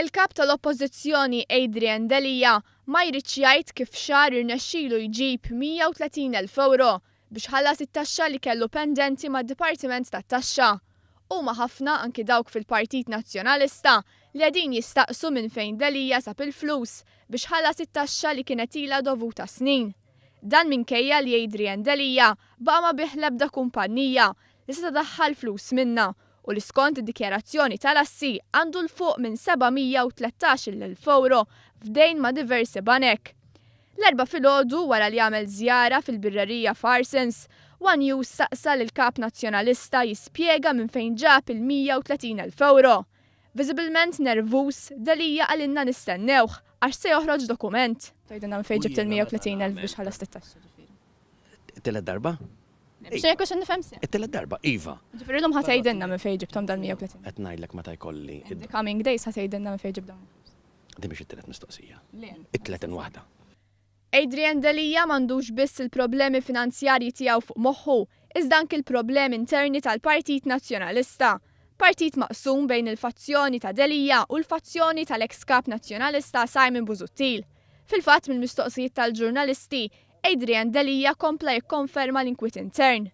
Il-Kap tal-Oppożizzjoni Adrian Delia ma jridx jgħid kif f'xahar irnexxilu jġib 130 elf ewro biex ħallas it-taxxa li kellu pendenti mad-Dipartiment tat-Taxxa. Huma ħafna anki dawk fil-Partit Nazzjonalista li qegħdin jistaqsu minn fejn Delia sab il-flus biex ħallas it-taxxa li kienet ilha dovuta snin. Dan minkejja li Adrian Delia baqa' ma bih l-ebda kumpannija li seta' daħħal flus minnha u li skont id-dikjarazzjoni tal-assi għandu 'l fuq minn 713-il elf ewro f'dejn ma' diversi banek. L-Erbgħa filgħodu, wara li għamel żjara fil-birrerija Farsons, one News staqsa lill-Kap Nazzjonalista jispjega minn fejn ġab il-130 elf ewro. Viżibilment nervuż, Delia qalilna nistennewh għax se joħroġ dokument. Tgħidilna minn fejn ġibt il-130 elf biex ħallast it-taxxi ġifieri? It-tielet darba? Biex jekk xi nifhem sew. It-tielet darba, iva. Ġifieri llum ħa tgħidilna minn fejn ġibthom dal-130. Qed ngħidlek meta jkolli. In the coming days ħa tgħidilna minn fejn ġibt dawn il-flus. Din mhix it-tielet mistoqsija. Le. It-tletin waħda. Adrian Delia m'għandux biss il-problemi finanzjarji tiegħu fuq moħħu, iżda anki l-problemi interni tal-Partit Nazzjonalista. Partit maqsum bejn il-fazzjoni ta' Delia u l-fazzjoni tal-eks Kap Nazzjonalista Simon Busuttil. Fil-fatt mill-mistoqsijiet tal-ġurnalisti, Adrian Delia kompla jikkonferma l-inkwiet intern.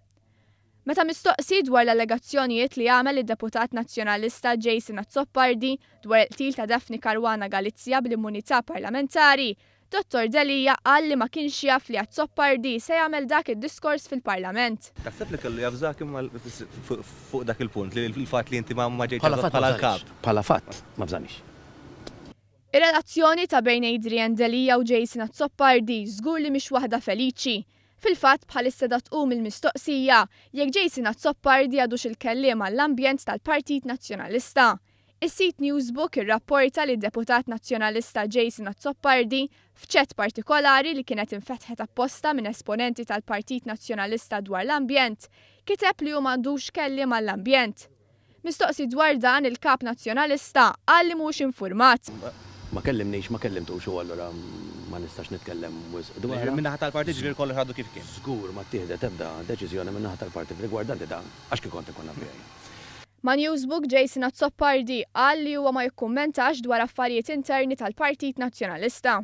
Meta mistoqsi dwar l-allegazzjonijiet li għamel id-deputat Nazzjonalista Jason Azzopardi dwar il-qtil ta' Daphne Caruana Galizia bl-immunità parlamentari, Dottor Delia qal li ma kienx jaf li Azzopardi se jagħmel dak id-diskors fil-Parlament. Taħseb li kellu jaf Zaki fuq dak il-punt, li l-fatt li inti ma ġejtx arrest bħala l-Kap. Bħala fatt, ma fżanix. Ir-relazzjoni ta' bejn Adrian Delia u Jason Azzopardi żgur li mhix waħda feliċi. Fil-fatt, bħalissa da tqum il-mistoqsija jekk Jason Azzopardi għadux il-kelliem għall-ambjent tal-Partit Nazzjonalista. Is-sit Newsbook irrapporta li d-deputat Nazzjonalista Jason Azzopardi, f'chat partikolari li kienet infetħet apposta minn esponenti tal-Partit Nazzjonalista dwar l-ambjent, kiteb li hu m'għandux kelliem għall-ambjent. Mistoqsi dwar dan il-Kap Nazzjonalista qal li mhuwiex infurmat. Ma kellimnix, ma kellimtux u allura ma nistax nitkellem wisq dwarha. Jiġifieri min-naħa tal-Partit jiġifieri kollox għadu kif kien? Żgur ma ttieħdet ebda deċiżjoni min-naħa tal-Partit rigwardanti dan, għax kien kont inkun naf. Ma' Newsbook, Jason Azzopardi qal li huwa ma jikkummentax dwar affarijiet interni tal-Partit Nazzjonalista.